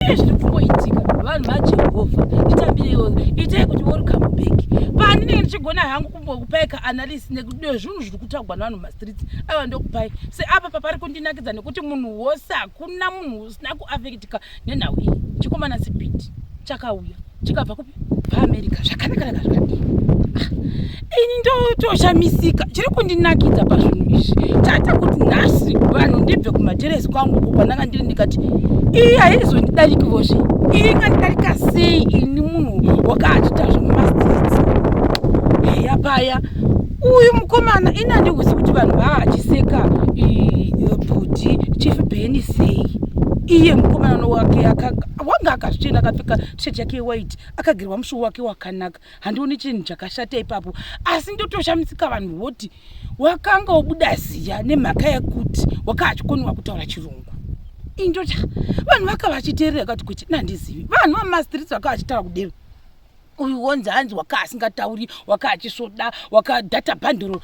Pane zviri kungoitika vanhu vaJehovha, nditambiriwo, itai kuti worikama bheki pani ndenge ndichigona hangu kumbokupai kaanalysis nekuti zvinhu zviri kutagwa nevanhu mumastreets ava ndokupai seapa papari kundinakidza nekuti munhu wose hakuna munhu usina kuafektika nenhau iyi chikomana sipiti chakauya chikabva kupi paamerica zvakanaka raka zvakadii ah, ini ndotoshamisika chiri kundinakidza pazvinhu izvi chaita kuti nhasi vanhu ndibve kumateresi kwangu uko kwandanga ndiri ndikati iyi haizondidarikivozve iyi ingandidarika sei ini munhu wakaachita zvemumastits heya paya uyu mukomana ini handikuzi kuti vanhu vaachiseka bhudhi chief beni sei iye mukomana wake akaga wanga akazvichena akapfeka tshet yake yewhite akagirwa mushuwo wake wakanaka handioni chinhu chakashata ipapo asi ndotoshamisika vanhu voti wakanga wobuda ziya nemhaka yekuti wakava achikoniwa kutaura chirungu indocha vanhu vakava vachiteerera kati kuti nandizivi vanhu vamastreets vakava vachitaura kudero uyu wonzi hanzi waka asingatauri waka achisvoda waka data bhandoro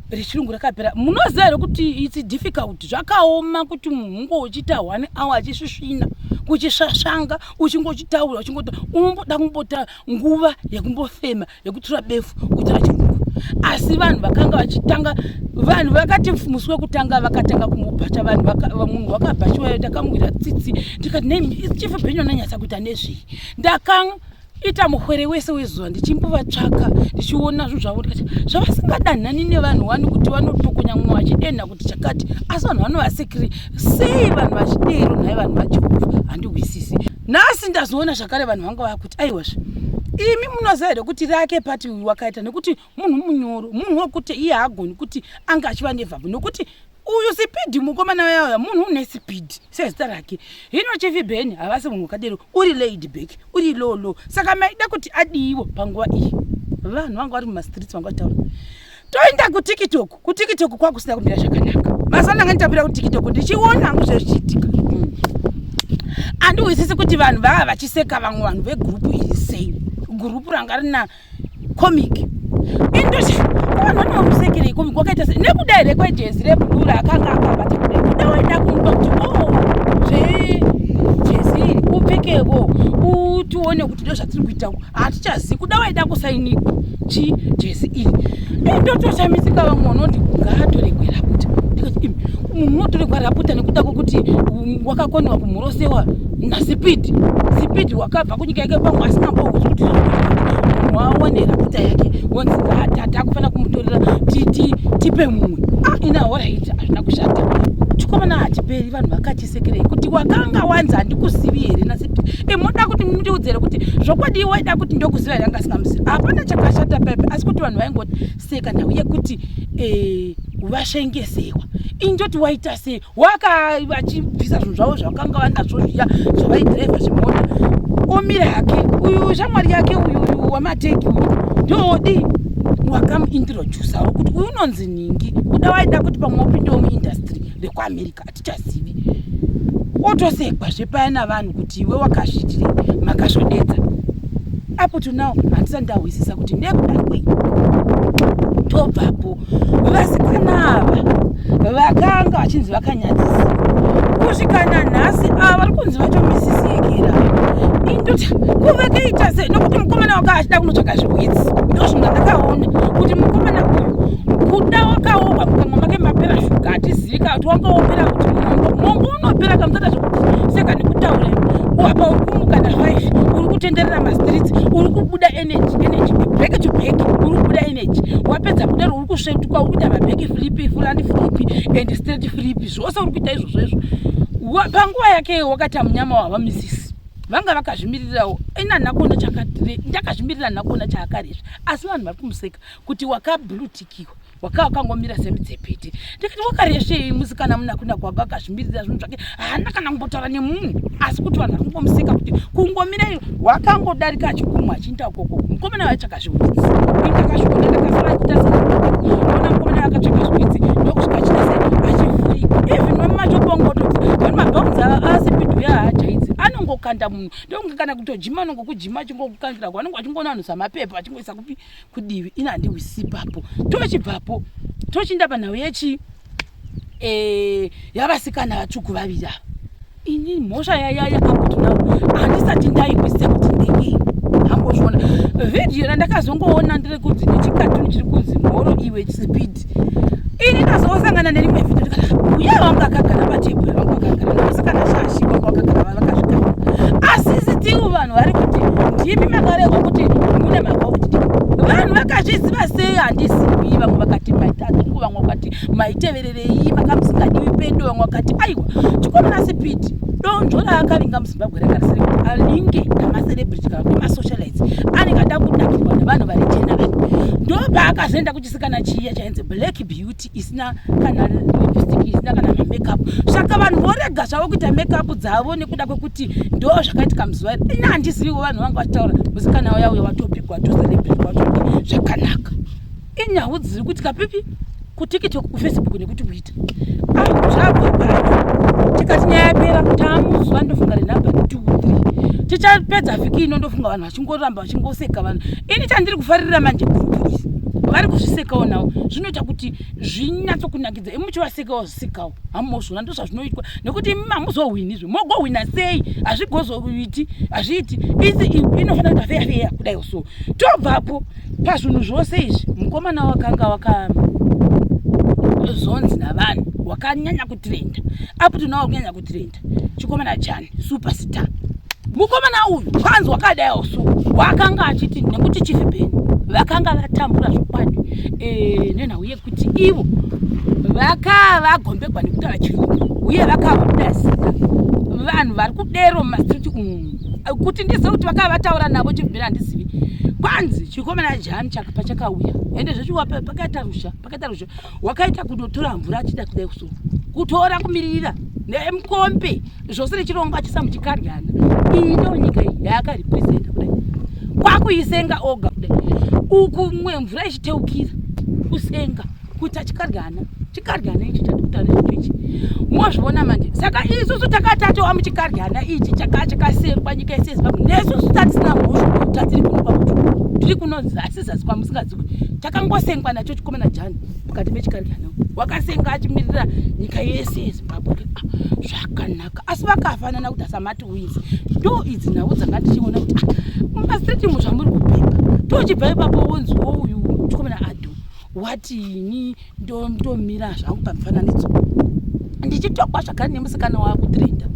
rechirungu rakapera munoziva here kuti its difficult zvakaoma kuti munhu unge uchiita one hour achisvisvina kuchisvasvanga uchinge uchitaura uchingota unomboda kumbota nguva yekumbofema yekutura befu kuitira chirungu asi vanhu vakanga vachitanga vanhu vakati musi wekutanga vakatanga kumubhacha vanhu munhu wakabhachiwayo takamwira tsitsi ndikati nei chief benyu ananyatsa kuita nezvei ndakanga ita muhwere wese wezuva ndichimbovatsvaka ndichiona zvinhu zvavo ndikati zvavasingadanhani nevanhu wani kuti vanotokonya mumwe vachidenha kuti chakati asi vanhu vanovasekiri sei vanhu vachidero nhai vanhu vajehovha handihwisisi nhasi ndazoona zvakare vanhu vanga vakuti aiwazve imi munoziva here kuti rake pati uyu wakaita nekuti munhu munyoro munhu wekuti iye haagoni kuti ange achiva nevabvu nekuti uyu sipidhi mukomana weyauya munhu une sipidhi sezita rake hino chifi beni havasi munhu wakadero uri laid back uri low low saka maida kuti adiivo panguva iyi vanhu vanga vari mumastreets vanga vataura toenda kutiktok kutiktok kwakusina kumira zvakanaka mazuva ndanga nditambira kutiktok ndichiona hangu zvezvichiitika andiwisisi kuti vanhu vava vachiseka vamwe vanhu vegrupu iri sei gurupu ranga rina comic indochi vanhu vane vamusekerei comic wakaita se nekuda here kwejezi rebudura akanga akabata kudai kuda waida kumupa kuti o oh, zvejezi iri upfekevo utione kuti ndo zvatiri kuita ku hatichazivi kuda waida kusaini chi jezi iri indotoshamisika vamwe vanoti ngaatoregwera kuti ndikati munhu unotoregwara aputa nekuda kwokuti wakakoniwa kumhorosewa nasipidi sipidi wakabva kunyika yake pamwe asina mbokuti kuti wawanera kuta yake wonzi ngaatata akufanira kumutorera tipe mumwe ah, ina horaiti hazvina kushata chikomana hachiperi vanhu vakachisekerei kuti wakanga wanzi handikuzivi here nasipidi e moda kuti mundiudzere kuti zvokwadi waida kuti ndokuziva here angasingamuzivi hapana chakashata pepe asi kuti vanhu vaingoti seka nhau yekuti e, vashengesewa injoti waita sei waka vachibvisa zvinhu zvavo zvavakanga vanazvo zviya zvavaidhiraivha zvimota omira hake uyu shamwari yake uyu uyu wamateki uyu ndoodii wakamuintrodusa ro kuti uyu unonzi nhingi kuda waida kuti pamwe upindewo muindastry rekuamerica hatichazivi otosekwa zvepaya navanhu kuti iwe wakazvitire makasvodedza apo tonow handisa ndahwisisa kuti nekuda kwei tobvapo vasikana ava vakanga vachinzi vakanyadzisa kusvika nanhasi ava vari kunzi vatomisisiekera indoti kuvekeita sei nokuti mukomana wanga achida kunotsvaka zvihwitsi ndo zvinga ndakaona kuti mukomana uyu kuda wakaoa mukamwa make mapera shuga hatizivika kuti wanga wopera kuti mongo mongo unopera kamusata zvekuti seka nekutaura wapa uri kumukana five uri kutenderera mastreets uri kubuda energy energy break to break uri kuda energy wapedza kudaro uri kusvetuka uri kuita mabreak flip fulani flip and straight flip zvose uri kuita izvozvo izvo panguva yake wakati amunyama wava misisi vanga vakazvimiririrawo ina nhakona chakati ndakazvimirira nhakona chaakarizvi asi vanhu vari kumuseka kuti wakablutikiwa wakaa wakangomira semidzepete ndikati wakaresvei musikana muna kuna kwako akazvimiririra zvinhu zvake haana kana kumbotaura nemunhu asi kuti vanhu vari kungomuseka kuti kungomirai wakangodarika achikumwa achiinda ukoko mukomana vaitsvaka zviwitsi ndakazviona ndakasara kuita seona mukomana vakatsvaka zviwitsi ndokusvika chita se achivhurika even vamumachobongototi vani mabhaunzi asi pidu yaajaidzi anongokanda munhu ndonge kana kutojima anongokujima achingokukangira ko anonge achingoona vanhu samapepa achingoisa kupi kudivi ini handihwisi ipapo tochibvapo tochinda panhau yechi eh, yavasikana vatsvuku vaviri ava ini mhosva yayaya apotinau handisati ndaihwisa kuti ndeyii ambozviona vhidhiyo randakazongoona ndiri kunzi nechikatuni chiri kunzi mhoro iwe chipidi ini ndazosangana nerimwe vhidho ndikati uye wangu akagara patebhura vangu akagara ndosikana shashi wangu akagara vavakazvigara asi sitiwo vanhu vari kuti ndimi makaregwa kuti mune makakuti vanhu vakazviziva sei handizivi vamwe vakati maitazuku vamwe vakati maitevererei makamusingadiwi pedo vamwe vakati aiwa chikomana sipiti donzvo raakavinga muzimbabwe rakarisiri kuti alinge namaselebrity kana kuti masocialites anenge ada kudakirwa nevanhu vari jena vani ndopaakazoenda chisikana chiya chainzi black beauty isina kana lipstick isina kana mamakeup saka vanhu vorega zvavo kuita makeup dzavo nekuda kwekuti ndo zvakaitika muzuva iri ini handiziviwo vanhu vanga vachitaura musikana uya uya watopigwa tozalebrika watopi zvakanaka inyau dziri kuitika pipi kutiktok kufacebook nekuti kuita kuchipata ah zvabva pano tikati nyaya yapera tamuzuva ndofunga renumber two three tichapedza vhiki ino ndofunga vanhu vachingoramba vachingoseka vanhu ini chandiri kufarira manje gurupu izi vari kuzvisekawo nawo zvinoita kuti zvinyatsokunakidza imi muchivasekawo zvisekawo hamuzvona ndo zvazvinoitwa nekuti imi hamuzohwinizve mogohwina sei hazvigozoiti hazviiti isi inofanira kuita feya feya kudai so tobvapo pazvinhu zvose izvi mukomana wakanga wakazonzi navanhu wakanyanya kutrenda up to now kunyanya kutrenda chikomana chani superstar mukomana uyu kwanzi wakadaiwo so wakanga achiti nekuti chief ben vakanga vatambura zvokwadi eh, nenhau yekuti ivo vakava vagombegwa nekutaura chirungu uye vakava kudasika vanhu vari kudero mumastreet umu kuti ndizive kuti vakava vataura navo chibvira handizivi kwanzi chikomana jani pachakauya ende zvechiwa pakaita rusha pakaita rusha wakaita kunotora mvura achida kudai kuso kutora kumiririra nemukombe zvose nechirongwa chisamuchikaryana iyi ndo nyika iyi yaakaripresenta kudai kwakuisenga oga kudai uku mwe mvura ichiteukira kusenga kuita chikaryana chikaryana ichi chatikuta nezvito ichi mozviona manje saka isusu takatatowa muchikaryana ichi chakachakasengwa nyika yese yezimbabwe nesusu tatisina mhosva tatiri kunopa kuti tiri kunonzi asizazi kwamusingaziwi takangosengwa nacho chikomana jani mukati mechikaryana wakasenga achimirira nyika yese yezimbabwe ah, zvakanaka asi vakafanana kuti asamati wizi ndo idzi nhau dzanga tichiona kuti ah, mumastreet mu zvamuri kupepa tochibva ipapo wonziwo uyu chikomana adu wati ini ndomira zvangu pamufananidzo ndichitokwa zvakare nemusikana wakutrenda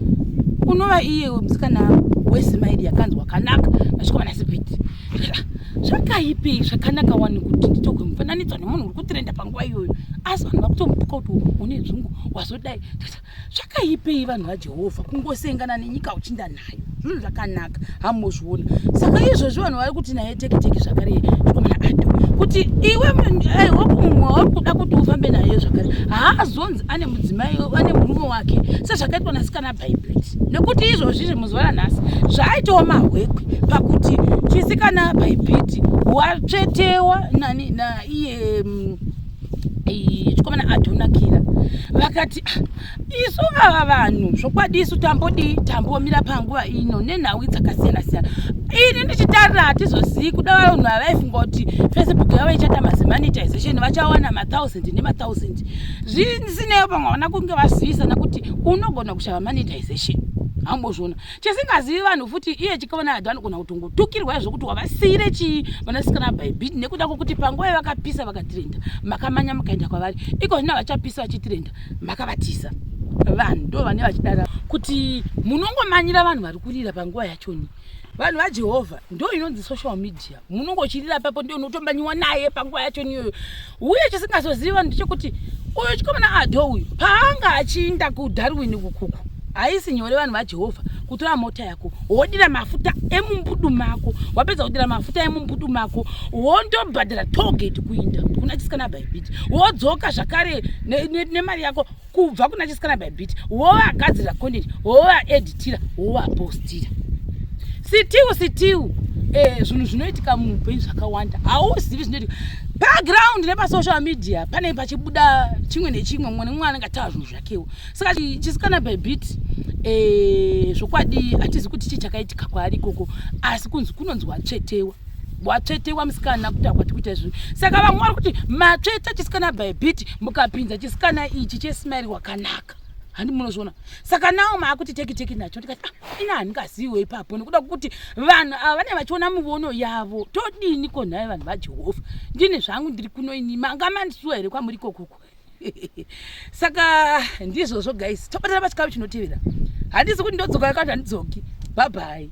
unova iye musikana wesimaidi yakanzwa kanaka nasvikomana sipiti zvakaipi zvakanaka wani kuti nditogwe mufananidzo nemunhu uri kutrenda panguva iyoyo asi vanhu vakutomupuka kuti une dzungu wazodai zvakaipei vanhu vajehovha kungosengana nenyika uchinda nayo zvinhu zvakanaka hamuzviona saka izvozvi vanhu vari kuti naye tekiteki zvakare zvikomana ado kuti iwe eh, wakumumwe wauri kuda kuti ufambe naye zvakare haazonzi ane mudzimai ane murume wake sezvakaitwa nasikana bhaibheri nekuti izvozvi zvemuzuva ranhasi zvaaitawo mahwekwe pakuti chisikana bhaibheri watsvetewa nani naiye mm, chikomana adonakira vakati ah, isu vava vanhu zvokwadi isu tambodii tambomira panguva ino nenhau dzakasiyana siyana ini ndichitarira hatizozivi kuda vanhu havaifunga kuti facebook yavo ichaita mazemanitization vachawana mathousand nemathousand zvisineyo pamwe havana kunge vazivisana kuti unogona kushava manitization hambozviona chisingazivi vanhu futi iye chikaona hadho anogona kutongotukirwa izvo kuti wavasiire chii vanasikana bhaibhit nekuda kwokuti panguva yavakapisa vakatirenda makamanya mukaenda kwavari iko zvino havachapisa vachitirenda makavatisa vanhu ndo vane vachidara kuti munongomanyira vanhu vari kurira panguva yachoni vanhu vajehovha ndo inonzi social media munongochirira papo ndiyo unotombanyiwa naye panguva yacho niyoyo uye chisingazozivi vanhu ndechekuti uyu chikomana adho uyu paanga achiinda kudarwin kukuku haisi nyore vanhu vajehovha kutora mota yako wodira mafuta emumbudu mako wapedza kudira mafuta emumbudu mako wondobhadhara togeti kuinda kuna chisikana bhaibhiti wodzoka zvakare nemari ne, ne yako kubva kuna chisikana by bit wovagadzirira content wovaeditira wovapostira sitiu sitiu eh, zvinhu zvinoitika muupenyu zvakawanda hauzivi zvinoitika background nepasocial media pane pachibuda chimwe nechimwe mumwe nemumwe anenge ataura zvinhu zvakewo saka chisikana by bit eh, zvokwadi hatizi kuti chii chakaitika kwaari ikoko asi kunzi kunonzwa tsvetewa watsvetewa musikana kuti akwati kuita izvozvo saka vamwe vari kuti matsveta chisikana by bit mukapinza chisikana ichi chesmairi wakanaka handi munozviona saka nawo maakuti teki teki nacho tikati ah, ina handingaziwe ipapo nekuda kwokuti vanhu ava vane vachiona muvono yavo todini ko nhai vanhu vajehovha ndine zvangu ndiri kuno ini manga mandisuwa here kwamuri kokuku saka ndizvozvo guys tobatana pachikavi chinotevera handisi kuti ndodzoka yakati handidzoki bhabhai